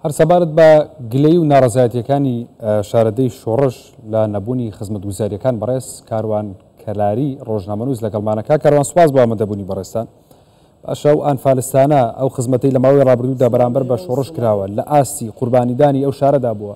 هەر سەبارەت بە گلەی و ناڕزایەتیەکانی شارەدەی شۆڕش لە نەبوونی خزمەت گوزاریەکان بەڕێز کاروان کەلاری ڕۆژنامەنووس لەگەڵمانەکە کاروان سوپاس بۆ ئەمەدەبوونی بەڕێستان باشە و ئەنفالستانە ئەو خزمەتی لە ماوەی ڕابردوودا بەرامبەر بە شۆڕش کراوە لە ئاستی قوربانیدانی ئەو شارەدا بووە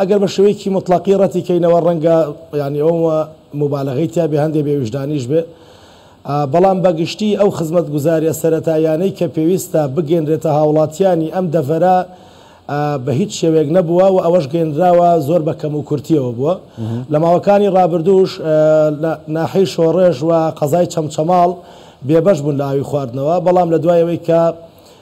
ئەگەر بە شێوەیەکی موتڵەقی ڕەتی کەینەوە ڕەنگە یانی ئەوم موبالەغەی تیا بێ هەندێ بێ ویژدانیش بێ بەڵام بە گشتی ئەو خزمەتگوزاریە سەرەتاییانەی کە پێویستە بگەینرێتە هاوڵاتیانی ئەم دەڤەرە بە هیچ شێوەیەک نەبووە و ئەوەش گەینراوە زۆر بە کەم و کورتیەوە بووە لە ماوەکانی ڕابردووش لە ناحەی شۆڕێژ و قەزای چەمچەماڵ بێبەش بوون لە ئاوی خواردنەوە بەڵام لە دوای ئەوەی کە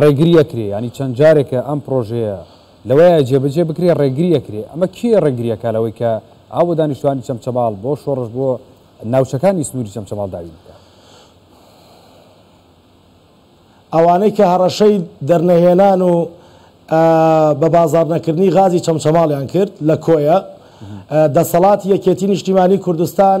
ڕێگری ئەکرێ یانی چەند جارێکە ئەم پڕۆژەیە لەوەیە جێبەجێ بکرێ ڕێگری ئەکرێ ئەمە کێ ڕێگری ئەکا لەوەی کە ئاو بۆ دانیشتوانی چەمچەماڵ بۆ شۆڕش بۆ ناوچەکانی سنوری چەمچەماڵ دابین بکا. ئەوانەی کە هەڕەشەی دەرنەهێنان و بە بازاڕ نەکردنی غازی چەمچەماڵیان کرد لە کۆیە دەسەڵاتی یەکێتی نیشتیمانی کوردستان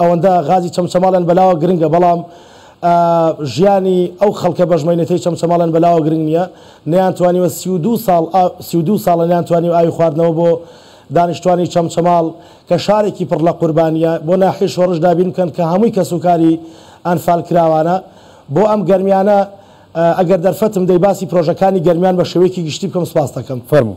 ئەوەندە غازی چەمچەماڵیان بەلاوە گرنگە بەڵام ژیانی ئەو خەڵکە بەژمەینەتەی چەمچەماڵیان بەلاوە گرنگ نییە نەیانتوانیوە سی و دوو ساڵ سی و دوو ساڵە نەیانتوانیوە ئاوی خواردنەوە بۆ دانیشتوانی چەمچەماڵ کە شارێکی پڕ لە قوربانییە بۆ ناحیەی شۆڕش دابین بکەن کە هەمووی کەسوکاری ئەنفالکراوانە بۆ ئەم گەرمیانە ئەگەر دەرفەتم دەی باسی پرۆژەکانی گەرمیان بە شێوەیەکی گشتی بکەم سپاستەکەم. فەرموو.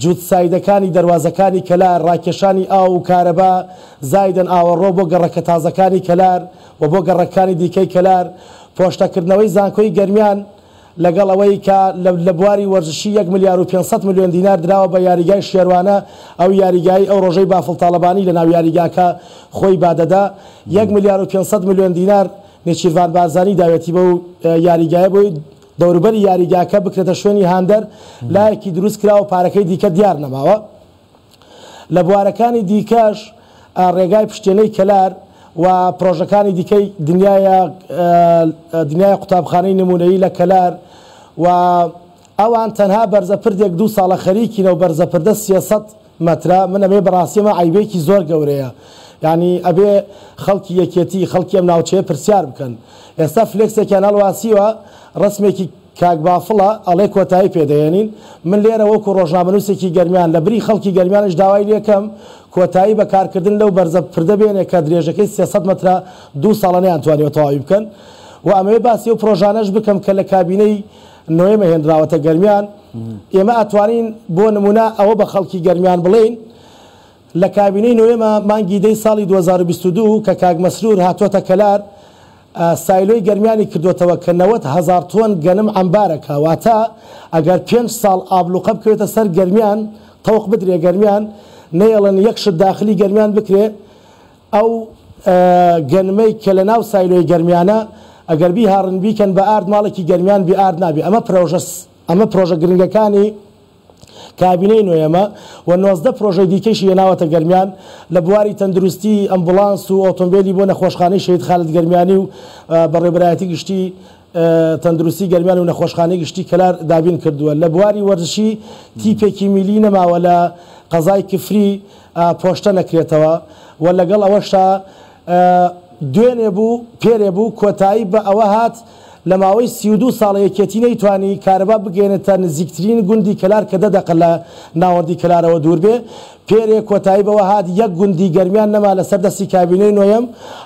جووت سایدەکانی دەروازەکانی کەلار، ڕاکێشانی ئاو و کارەبا، زایدن ئاوەڕۆ بۆ گەڕەکە تازەکانی کەلار و بۆ گەڕەککانی دیکەی کەلار، پۆشتەکردنەوەی زانکۆی گەرمیان، لەگەڵ ئەوەی کە لە بواری وەرزشی یەک ملیار و پێنج سەد ملیۆن دینار دراوە بە یاریگای شێروانە، ئەو یاریگایەی ئەو ڕۆژەی بافڵ تاڵەبانی لە ناو یاریگاکە خۆی بادەدا یەک ملیار و پێنج سەد ملیۆن دینار نێچیرڤان بارزانی داوێتی بەو یاریگایە بۆی. دەوروبەری یاریگاکە بکرێتە شوێنی هاندەر لایەکی دروست کراوە و پارەکەی دیکە دیار نەماوە لە بوارەکانی دیکەش ڕێگای پشتێنەی کەلار و پرۆژەکانی دیکەی دنیایە دنیای قوتابخانەی نموونەیی لە کەلار و ئەوان تەنها بەرزە پردێک دوو ساڵە خەریکینە و بەرزە پردە سێ سەد مەترە من ئەمەیە بەڕاستی ئەمە عەیبێکی زۆر گەورەیە یانی ئەبێ خەڵکی یەکێتی خەڵکی ئەم ناوچەیە پرسیار بکەن ئێستا فلێکسێکیان هەڵواسیوە ڕەسمێکی کاک بافڵە ئەڵێ کۆتایی پێ دەهێنین من لێرە وەکو ڕۆژنامەنووسێکی گەرمیان لە بری خەڵکی گەرمیانیش داوای لێکەم کۆتایی بە کارکردن لەو بەرزە پردە بێنێ کە درێژەکەی سێ سەد مەترە دوو ساڵە نەیانتوانیوە تەواوی بکەن و ئەمەوێ باسی ئەو پرۆژانەش بکەم کە لە کابینەی نۆیەمە هێنراوەتە گەرمیان، ئێمە ئەتوانین بۆ نمونە ئەوە بە خەڵکی گەرمیان بڵێین لە کابینەی نۆیەمە مانگی دەی ساڵی دوو هەزار و بیست و دوو کە کاک مەسرور هاتۆتە کەلار سایلۆی گەرمیانی کردۆتەوە کە نەوەد هەزار تۆن گەنم عەمبارەکە واتە ئەگەر پێنج ساڵ ئابڵوقە بکەوێتە سەر گەرمیان تەوق بدرێ گەرمیان نەیەڵن یەک شت داخلی گەرمیان بکرێ ئەو گەنمەی کە لە ناو سایلۆی گەرمیانە ئەگەر بیهاڕن بیکەن بە ئارد ماڵێکی گەرمیان بی ئارد نابی ئەمە پرۆژە ئەمە پرۆژە گرنگەکانی کابینەی نۆیەمە و نۆزدە پرۆژەی دیکەیشی هێناوەتە گەرمیان لە بواری تەندروستی ئەمبوڵانس و ئۆتۆمبێلی بۆ نەخۆشخانەی شەهید خالد گەرمیانی و بەڕێوبەرایەتی گشتی تەندروستی گەرمیان و نەخۆشخانەی گشتی کەلار دابین کردووە لە بواری وەرزشی تیپێکی میلی نەماوە لە قەزای کفری پۆشتە نەکرێتەوە و لەگەڵ ئەوەشا دوێنێ بوو پێرێ بوو کۆتایی بە ئەوە هات لە ماوەی سی و دوو ساڵ یەکێتی نەیتوانی کارەبا بگەیەنێتە نزیکترین گوندی کەلار کە دە دەقە لە ناوەندی کەلارەوە دوور بێ پێرێ کۆتایی بەوە هات یەک گوندی گەرمیان نەما لەسەر دەستی کابینەی نۆیەم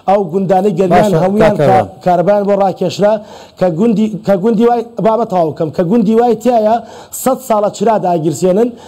ئەو گوندانەی گەرمیان باشە هەموویان کاکە کە ڕەنج. کارەبایان بۆ ڕاکێشرا کە گوندی کە گوندی وای بابە تەواو بکەم کە گوندی وای تایە سەد ساڵە چرا داگیرسێنن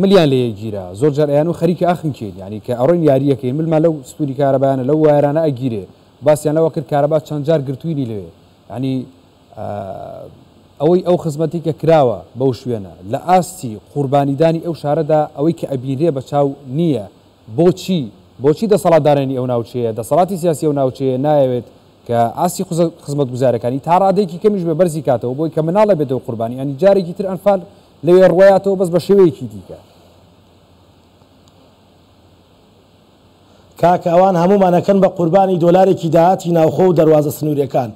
ملیان لە یەک گیرا زۆر جار ئەیانو خەریکی ئاخم کێین یعنی کە ئەڕۆین یاریەکەین ملمان لەو ستونی کارەبایانە لەو وایەرانە ئەگیرێ باسیان لەوە کرد کارەبا چەند جار گرتوینی لەوێ یعنی ئەوەی ئەو خزمەتی کە کراوە بەو شوێنە لە ئاستی قوربانیدانی ئەو شارەدا ئەوەی کە ئەبینرێ بە چاو نییە بۆچی بۆچی دەسەڵاتدارانی ئەو ناوچەیە دەسەڵاتی سیاسی ئەو ناوچەیە نایەوێت کە ئاستی خزمەتگوزارەکانی تا ڕادەیەکی کەمیش بێ بەرزی کاتەوە بۆی کە مناڵە بێتەوە قوربانی یانی جارێکی تر ئەنفال لەوێ ڕوایاتەوە بەس بە شێوەیەکی دیکە. کاکە ئەوان هەموومان ئەکەن بە قوربانی دۆلارێکی داهاتی ناوخۆ و دەروازە سنوریەکان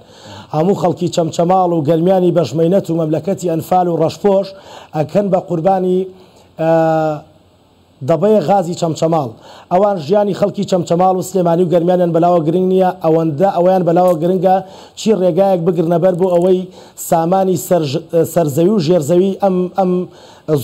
هەموو خەڵکی چەمچەماڵ و گەرمیانی بەش مەینەت و مەملەکەتی ئەنفال و ڕەشپۆش ئەکەن بە قوربانی دەبەیە غازی چەمچەماڵ ئەوان ژیانی خەڵکی چەمچەماڵ و سلێمانی و گەرمیانیان بەلاوە گرنگ نییە ئەوەندە ئەوەیان بەلاوە گرنگە چی ڕێگایەک بگرنە بەر بۆ ئەوەی سامانی سەر سەر زەوی و ژێر زەوی ئەم ئەم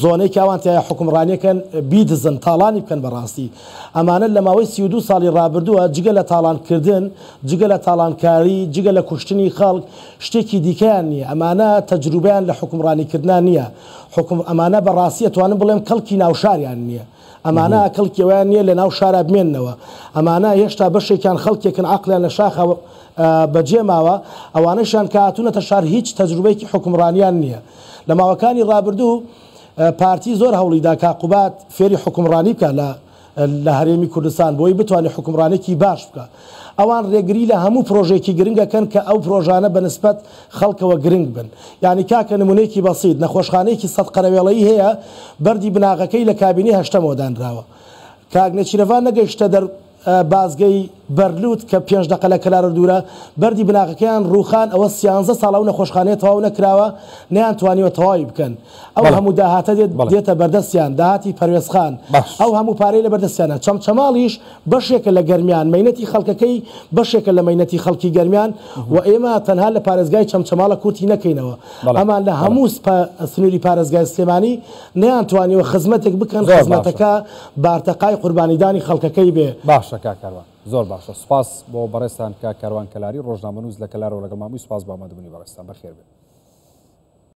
زۆنەی کە ئەوان تیایا حوکمڕانیەکەن بیدزن تاڵانی بکەن بەڕاستی ئەمانە لە ماوەی سی و دوو ساڵی ڕابردووە جگە لە تاڵان کردن جگە لە تاڵانکاری جگە لە کوشتنی خەڵک شتێکی دیکەیان نییە ئەمانە تەجروبەیان لە حوکمڕانی کردنا نییە حوکم ئەمانە بە ڕاستی ئەتوانم بڵێم کەڵکی ناو شاریان نیە ئەمانە کەڵکی ئەوەیان نیە لە ناو شارا بمێنەوە ئەمانە هێشتا بەشێکیان خەڵکێکن عەقلیان لە شاخە بە جێ ماوە ئەوانەشیان کە هاتونەتە شار هیچ تەجروبەیەکی حوکمڕانیان نیە لە ماوەکانی ڕابردوو پارتی زۆر هەوڵی دا کاک قوباد فێری حوکمڕانی بکا لە لە هەرێمی کوردستان بۆی بتوانێت حوکمڕانێکی باش بکا. ئەوان رێگری لە هەموو پرۆژەیەکی گرنگ ئەکەن کە ئەو پرۆژانە بە نسبەت خەڵکەوە گرنگ بن. یانی کاکە نمونەیەکی بەسیت، نەخۆشخانەیەکی سەد قەرەوێڵەیی هەیە بەردی بناغەکەی لە کابینەی هەشتەمەوە دانراوە. کاک نێچیرەڤان نەگەیشتە دەر بازگەی بەرلوت کە پێنج دەقە لە کەلارۆ دورە، بەردی بناغەکەیان روخان ئەوە سیانزە ساڵە ئەو نەخۆشخانەیە تەواو نەکراوە نەیانتوانیوە تەواوی بکەن. ئەو هەموو داهاتە دێتە بەردەستیان، داهاتی پەروێزخان، ئەو هەموو پارەی لە بەردەستیانە. چەمچەماڵیش بەشێکە لە گەرمیان، مەینەتی خەڵکەکەی بەشێکە لە مەینەتی خەڵکی گەرمیان و ئێمە تەنها لە پارێزگای چەمچەماڵە کورتی نەکەینەوە. ئەمان لە هەموو سنووری پارێزگای سلێمانی نەیانتوانیوە خزمەتێک بکەن، خزمەتەکە بارتەقای قوربانیدانی خەڵکەکەی بێ. باشە کاک کاروان، زۆر باشە. سوپاس بۆ بەڕێزتان کاک کاروان کەلاری، ڕۆژنامەنووس لە کەلارەوە لەگەڵمان بووی. سوپاس بۆ ئامادەبوونی بەڕێزتان. بەخێربێن.